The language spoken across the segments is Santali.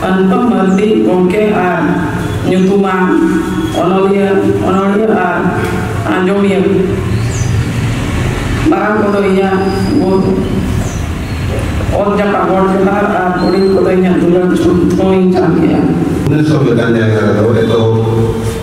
ᱯᱟᱱᱛᱚ ᱢᱟᱹᱨᱰᱤ ᱜᱚᱢᱠᱮ ᱟᱨ ᱧᱩᱛᱩᱢᱟᱱ ᱚᱱᱚᱞᱤᱭᱟᱹ ᱚᱱᱚᱲᱦᱤᱭᱟᱹ ᱟᱨ ᱟᱸᱡᱚᱢᱤᱭᱟᱹ ᱢᱟᱨᱟᱝ ᱠᱚᱫᱚ ᱤᱧᱟᱹᱜ ᱵᱩᱫ ᱚᱛ ᱡᱟᱯᱟᱜ ᱜᱚᱲ ᱡᱚᱦᱟᱨ ᱟᱨ ᱦᱩᱰᱤᱧ ᱠᱚᱫᱚ ᱤᱧᱟᱹᱜ ᱫᱩᱞᱟᱹᱲ ᱪᱩᱢ ᱠᱚᱧ ᱪᱟᱞ ᱠᱮᱜᱼᱟ ᱱᱤᱥᱚᱵ ᱞᱮᱠᱟᱱ ᱡᱟᱭᱜᱟ ᱨᱮᱫᱚ ᱮᱛᱚᱦᱚᱵ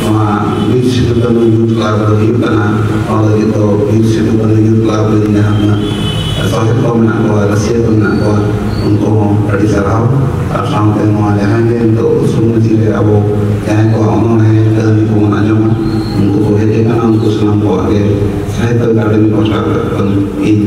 ᱱᱚᱣᱟ ᱵᱤᱨ ᱥᱤᱫᱩ ᱠᱟᱹᱱᱩ ᱭᱩᱛᱷ ᱠᱞᱟᱵᱽ ᱫᱚ ᱦᱩᱭᱩᱜ ᱠᱟᱱᱟ ᱱᱚᱣᱟ ᱞᱟᱹᱜᱤᱫ ᱫᱚ ᱵᱤᱨ ᱥᱤᱫᱩ ᱠᱟᱹᱱᱩ ᱭᱩᱛᱷ ᱠᱞᱟᱵᱽ ᱨᱮ ᱡᱟᱦᱟᱸ ᱛᱤᱱᱟᱹᱜ ᱥᱚᱦᱮᱫ ᱠᱚ ᱢᱮᱱᱟᱜ ᱠᱚᱣᱟ ᱨᱟᱹᱥᱤᱭᱟᱹ ᱠᱚ ᱢᱮᱱᱟᱜ ᱠᱚᱣᱟ ᱩᱱᱠᱩ ᱦᱚᱸ ᱟᱹᱰᱤ ᱥᱟᱨᱦᱟᱣ ᱟᱨ ᱥᱟᱶᱛᱮ ᱱᱚᱣᱟ ᱡᱟᱦᱟᱸᱭ ᱜᱮ ᱱᱤᱛᱚᱜ ᱥᱚᱢᱟᱡᱽ ᱨᱮ ᱟᱵᱚ ᱡᱟᱦᱟᱸᱭ ᱠᱚᱣᱟᱜ ᱚᱱᱚᱬᱦᱮ ᱠᱟᱹᱦᱱᱤ ᱠᱚᱵᱚᱱ ᱟᱸᱡᱚᱢᱟ ᱩᱱᱠᱩ ᱠᱚ ᱦᱮᱡ ᱟᱠᱟᱱᱟ ᱩᱱᱠᱩ ᱥᱟᱱᱟᱢ ᱠᱚᱣᱟᱜ ᱜᱮ ᱥᱟᱦᱤᱛᱛᱚ ᱟᱠᱟᱰᱮᱢᱤ ᱯᱟᱦᱴᱟ ᱠᱷᱚᱱ ᱤᱧ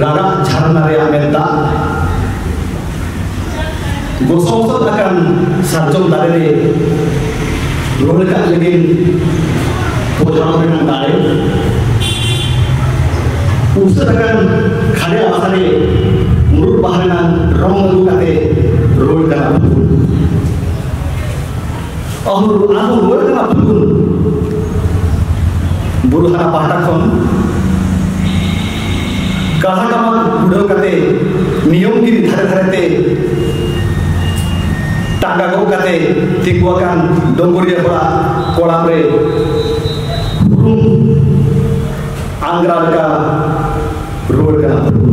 ᱨᱟᱨᱟᱜ ᱡᱷᱟᱨᱱᱟ ᱨᱮᱭᱟᱜ ᱢᱮᱫ ᱫᱟᱜ ᱜᱚᱥᱚᱝᱥᱚᱫ ᱟᱠᱟᱱ ᱥᱟᱨᱡᱚᱢ ᱫᱟᱨᱮ ᱨᱮ ᱨᱚᱦᱚᱭ ᱠᱟᱜ ᱞᱟᱹᱜᱤᱫ ᱯᱚᱡᱟᱣ ᱨᱮᱱᱟᱜ ᱫᱟᱲᱮ ᱩᱥᱟᱹᱨ ᱟᱠᱟᱱ ᱠᱷᱟᱲᱮ ᱟᱥᱟ ᱨᱮ ᱢᱩᱨᱩᱫ ᱵᱟᱦᱟ ᱨᱮᱱᱟᱜ ᱨᱚᱝ ᱟᱹᱜᱩ ᱠᱟᱛᱮ ᱨᱚᱦᱚᱭ ᱠᱟᱜ ᱟᱵᱚ ᱟᱵᱚ ᱨᱩᱣᱟᱹᱲ ᱠᱟᱱᱟ ᱯᱷᱟᱹᱜᱩᱱ ᱵᱩᱨᱩ ᱦᱟᱨᱟ ᱯᱟᱦᱴᱟ ᱠᱷᱚᱱ ᱠᱟᱦᱟ ᱴᱟᱢᱟᱠ ᱩᱰᱟᱹᱣ ᱠᱟᱛᱮ ᱱᱤᱭᱚᱢ ᱜᱤᱨ ᱫᱷᱟᱨᱮ ᱫᱷᱟᱨᱮ ᱛᱮ ᱴᱟᱸᱜᱟ ᱜᱚᱜ ᱠᱟᱛᱮ ᱛᱤᱸᱜᱩ ᱟᱠᱟᱱ ᱰᱚᱝᱜᱚᱨᱤᱭᱟᱹ ᱦᱚᱲᱟᱜ ᱠᱚᱲᱟᱢ ᱨᱮ ᱦᱩᱨᱩᱢ ᱟᱝᱜᱽᱨᱟ ᱞᱮᱠᱟ ᱨᱩᱣᱟᱹᱲ ᱠᱟᱱᱟ ᱯᱷᱟᱹᱜᱩᱱ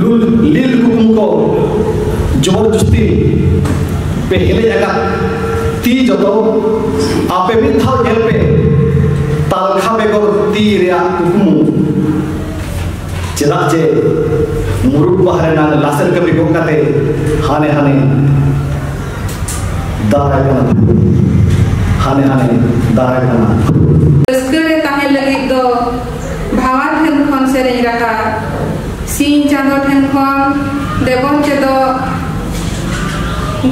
ᱞᱩᱞ ᱞᱤᱞ ᱠᱩᱢ ᱠᱚ ᱡᱚᱵᱚᱨ ᱡᱩᱥᱛᱤ ᱯᱮ ᱦᱮᱞᱮᱡ ᱟᱠᱟᱫ ᱛᱤ ᱡᱚᱛᱚ ᱟᱯᱮ ᱢᱤᱫ ᱫᱷᱟᱣ ᱧᱮᱞ ᱯᱮ ᱛᱟᱞᱠᱷᱟ ᱵᱮᱜᱚᱨ ᱛᱤ ᱨᱮᱭᱟᱜ ᱠᱩᱠᱢᱩ ᱪᱮᱫᱟᱜ ᱡᱮ ᱢᱩᱨᱩᱠ ᱵᱟᱦᱟ ᱨᱮᱱᱟᱜ ᱞᱟᱥᱮᱨ ᱠᱟᱹᱢᱤ ᱜᱚᱜ ᱠᱟᱛᱮ ᱦᱟᱱᱮ ᱦᱟᱱᱮ ᱫᱟᱨᱟᱭ ᱠᱟᱱᱟ ᱦᱟᱱᱮ ᱦᱟᱱᱮ ᱫᱟᱨᱟᱭ ᱠᱟᱱᱟ ᱵᱷᱟᱣᱟ ᱴᱷᱮᱱ ᱠᱷᱚᱱ ᱥᱮᱨᱮᱧ ᱨᱟᱦᱟ ᱥᱤᱧ ᱪᱟᱸᱫᱚ ᱴᱷᱮᱱ ᱠᱷᱚᱱ ᱵᱮᱜᱚᱨ ᱪᱮᱫᱚᱜ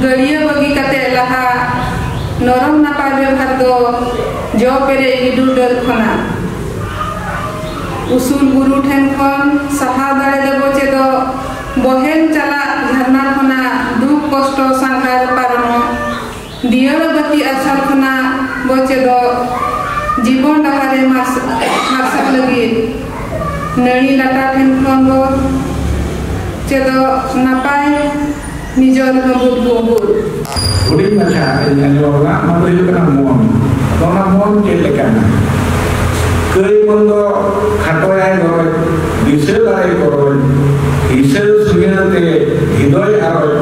ᱜᱟᱹᱰᱭᱟᱹ ᱵᱟᱹᱜᱤ ᱠᱟᱛᱮ ᱞᱟᱦᱟ ᱱᱚᱨᱚᱢ ᱱᱟᱯᱟᱭ ᱵᱮᱵᱷᱟᱨ ᱫᱚ ᱡᱚ ᱯᱮᱨᱮ ᱜᱤᱰᱩ ᱰᱟᱹᱨ ᱠᱷᱚᱱᱟᱜ ᱩᱥᱩᱞ ᱵᱩᱨᱩ ᱴᱷᱮᱱ ᱠᱷᱚᱱ ᱥᱟᱦᱟ ᱫᱟᱲᱮ ᱫᱮᱵᱚ ᱪᱮᱫᱚᱜ ᱵᱚᱦᱮᱞ ᱪᱟᱞᱟᱜ ᱡᱷᱟᱨᱱᱟ ᱠᱷᱚᱱᱟᱜ ᱫᱩᱠ ᱠᱚᱥᱴᱚ ᱥᱟᱸᱜᱷᱟᱨ ᱯᱟᱨᱚᱢᱚᱜ ᱫᱤᱭᱟᱹᱲᱟ ᱵᱟᱹᱛᱤ ᱟᱨᱥᱟᱞ ᱠᱷᱚᱱᱟᱜ ᱵᱚ ᱪᱮᱫᱚᱜ ᱡᱤᱵᱚᱱ ᱰᱟᱦᱟᱨ ᱮ ᱢᱟᱨᱥᱟᱞ ᱞᱟᱹᱜᱤᱫ ᱱᱟᱹᱲᱤ ᱞᱟᱴᱟ ᱴᱷᱮᱱ ᱠᱷᱚᱱ ᱵᱚ ᱪᱮᱫᱚᱜ ᱱᱟᱯᱟᱭ ᱱᱤᱡᱚᱨ ᱦᱟᱹᱵᱩᱫ ᱜᱩᱵᱩᱫ᱾ ᱦᱩᱰᱤᱧ ᱢᱟᱪᱷᱟ ᱤᱧ ᱟᱸᱡᱚᱢ ᱟᱠᱟᱫᱟ ᱚᱱᱟ ᱫᱚ ᱦᱩᱭᱩᱜ ᱠᱟᱱᱟ ᱢᱚᱱ ᱟᱫᱚ ᱚᱱᱟ ᱢᱚᱱ ᱪᱮᱫ ᱞᱮᱠᱟᱱᱟ ᱠᱟᱹᱭ ᱢᱚᱱ ᱫᱚ ᱠᱷᱟᱴᱚᱭᱟᱭ ᱜᱚᱨᱚᱡᱽ ᱫᱤᱥᱟᱹ ᱫᱟᱲᱮ ᱠᱚᱨᱚᱡᱽ ᱦᱤᱥᱟᱹ ᱥᱩᱭᱟᱹᱲ ᱛᱮ ᱦᱤᱫᱚᱭ ᱟᱨᱚᱡᱽ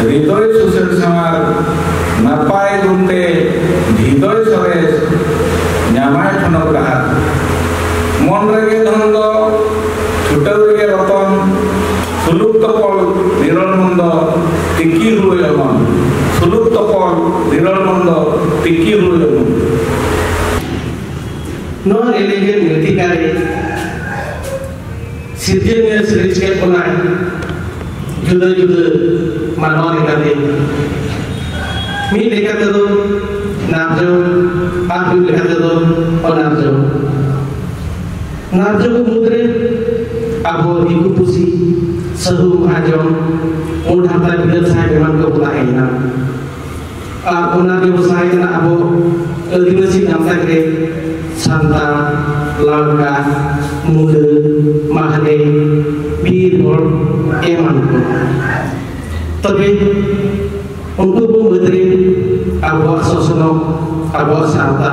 ᱦᱨᱤᱫᱚᱭ ᱥᱩᱥᱮᱨ ᱥᱟᱶᱟᱨ ᱱᱟᱯᱟᱭ ᱜᱩᱱᱛᱮ ᱦᱨᱤᱫᱚᱭ ᱥᱚᱨᱮᱥ ᱧᱟᱢᱟᱭ ᱴᱷᱚᱱᱚᱠ ᱰᱟᱦᱟᱨ ᱢᱚᱱ ᱨᱮᱜᱮ ᱫᱷᱚᱱ ᱫᱚ ᱪᱷᱩᱴᱟᱹᱣ ᱨᱮᱜᱮ ᱨᱚᱛᱚᱱ ᱥᱩᱞᱩᱠ ᱛᱚᱯᱚᱞ ᱱᱤᱨᱚᱞ ᱢᱚᱱ ᱫᱚ ᱛᱤᱠᱤ ᱦᱩᱭ ᱚᱢᱚᱱ ᱥᱩᱞᱩᱠ ᱛᱚᱯᱚᱞ ᱱᱤᱨᱚᱞ ᱢᱚᱱ ᱫᱚ ᱛᱤᱠᱤ ᱦᱩᱭ ᱚᱢᱚᱱ ᱱᱚᱣᱟ ᱨᱮᱞᱤᱜᱮᱱ ᱨᱤᱛᱤᱠᱟᱨᱮ ᱥᱤᱨᱡᱟᱹᱱᱤᱭᱟᱹ ᱥᱤᱨᱤᱡᱽ ᱠᱮᱫ ᱵᱚᱱᱟᱭ ᱡᱩᱫᱟᱹ ᱡᱩᱫᱟᱹ ᱢᱟᱱᱣᱟ ᱞᱮᱠᱟᱛᱮ ᱢᱤᱫ ᱞᱮᱠᱟ ᱛᱮᱫᱚ ᱱᱟᱨᱡᱚ ᱟᱨ ᱢᱤᱫ ᱞᱮᱠᱟ ᱛᱮᱫᱚ ᱚᱱᱟᱨᱡᱚ ᱱᱟᱨᱡᱚ ᱠᱚ ᱢᱩᱫᱽᱨᱮ ᱟᱵᱚ ᱫᱤᱠᱩ ᱯᱩᱥᱤ ᱥᱟᱹᱦᱩ ᱢᱚᱦᱟᱡᱚᱱ ᱢᱩᱰ ᱦᱟᱛᱟᱭ ᱵᱤᱞᱟᱹᱛ ᱥᱟᱦᱮᱵ ᱮᱢᱟᱱ ᱠᱚ ᱛᱟᱦᱮᱸᱭᱮᱱᱟ ᱟᱨ ᱚᱱᱟ ᱵᱮᱵᱚᱥᱟᱭ ᱠᱟᱱᱟ ᱟᱵᱚ ᱟᱹᱫᱤᱵᱟᱹᱥᱤ ᱜᱟᱶᱛᱟ ᱨᱮ ᱥᱟᱱᱛᱟᱲ ᱞᱟᱲᱠᱟ ᱢᱩᱰᱟᱹ ᱢᱟᱦᱟᱞᱮ ᱵᱤᱨ ᱦᱚᱲ ᱮᱢᱟᱱ ᱠᱚ ᱛᱚᱵᱮ ᱩᱱᱠᱩ ᱠᱚ ᱢᱩᱫᱽᱨᱮ ᱟᱵᱚᱣᱟᱜ ᱥᱚᱥᱱᱚᱜ ᱟᱵᱚᱣᱟᱜ ᱥᱟᱶᱛᱟ